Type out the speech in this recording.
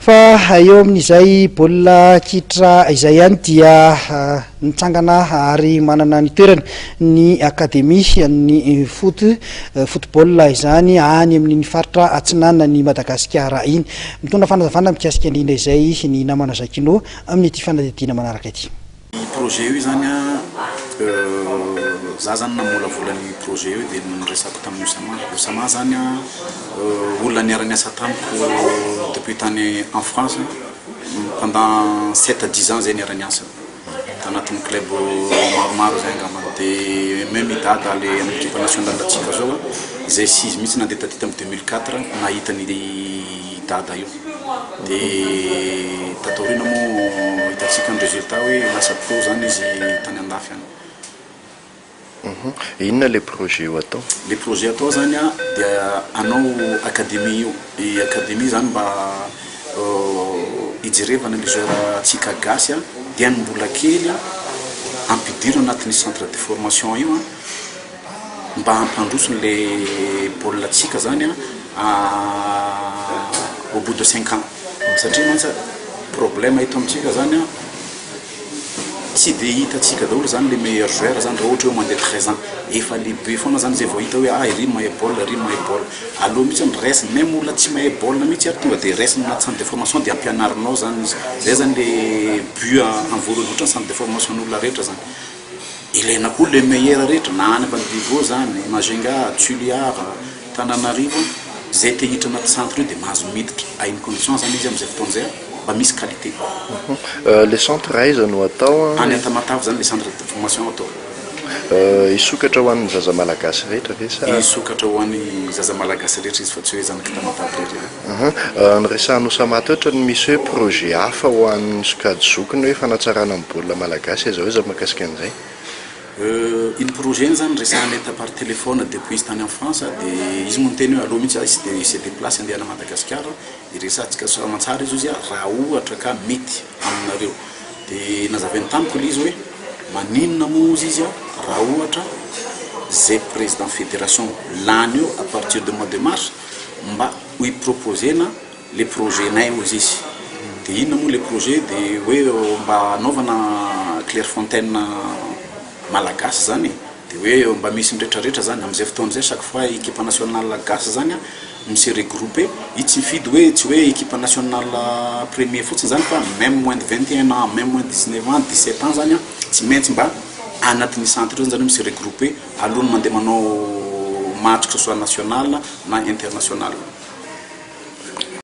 Fa eo amin'izay baolina kitra izay ihany dia nitsangana ary manana ny toerany ny Académie an'ny foot, football izany any amin'iny faritra atsinanan'i Madagasikara iny. Mitondra fanazavana mikasika indrindra izay ny namana Jacquinot amin'ity fanadihadiana manaraka ity. Io projet io izany an, za zany namolavola ny projet io dia niresako tamin'i Oussama. Oussama izany an, olona niara-niasa tamiko depuis tany en France, pendant sept à dix ans izay niara-niasa, tanatin'ny club maromaro izay angambany. Dia même i Dada le amin'ny equipe nationale-ntsika izao an, izay six mihitsy nandeha taty tamin'ny deux mille quatre nahita ny. i Dada io dia tato aoriana moa hitantsika ny résultat hoe lasa pro zany izy tany andafy any. Inona ilay projet ho atao? Ilay projet atao zany an dia hanao académie io, i académie zany mba hijerevana ny joueur ntsika gasy an dia ny mbola kely an ampidirina anatin'io centre de formation io an. Mba hampandroso anle baolina tsika zany a au bout de cinq ans satria mantsy a problème eto amintsika zany a tsy de hitatsika daholo zany le meilleur joueur zany ra ohatra oe mandeha treize ans efa lehibe foana zany zay vao hita oe ah iry mahay baolina iry mahay baolina aleo mitsy ny res meme olona tsy mahay baolina mitsy ary tonga de res na centre de formation de ampianarinao zany izy zay zany le but a anvory indrindra ny centre de formation ny olona rehetra zany. Ilaina koa le Maire rehetra na any Ambanivohivoo zany, Majunga, Toliara, Tananarivo, zay te hiditra anaty centre io de mahazo miditra à une condition zany izy amzay fotoana zay mba misy qualité. Le centre aiza no atao an? Any Antamatave zany le centre de formation atao. Hisokatra ho an'ny zaza malagasy rehetra ve sa? Hisokatra ho an'ny zaza malagasy rehetra izy fa tsy hoe zanak'i Tamatave rehetra. Ahaa, niresahan'i Oussama teo ohatran'ny misy hoe projet hafa ho an'ny sokajy zokiny hoe fanatsarana ny baolina malagasy aiza ho aiza mahakasika an'izay? Euh, iny projet iny zany resahanay ta par téléphone depuis tany en France de izy moa niteny hoe aleo mihitsy aho tsy de se déplace andeha any Madagasikara hiresahantsika soramantsara izy hozy aho raha ohatra ka mety aminareo de nazavainy tamiko le izy hoe maninona moa hozy izy raha ohatra ze président fédération lany eo à partir de mois de mars mba ho i proposer-na le projet-nay hoy izy de inona moa le projet de hoe mba anaovana clairefontaine malagasy zany e de hoe mba misy miretraretra zany amizay fotoana zay chaque fois equipe nationale gasy zany a no se regroupe i tsy mifidy hoe tsy hoe equipe nationale premier fotsiny zany fa meme moins de vingt et un ans meme moins de dix neuf ans dix sept ans zany a tsy maintsy mba anatin'ny centre io zany zareo mi se regroupe Alohan'ny mandeha manao match que ce soit national na international.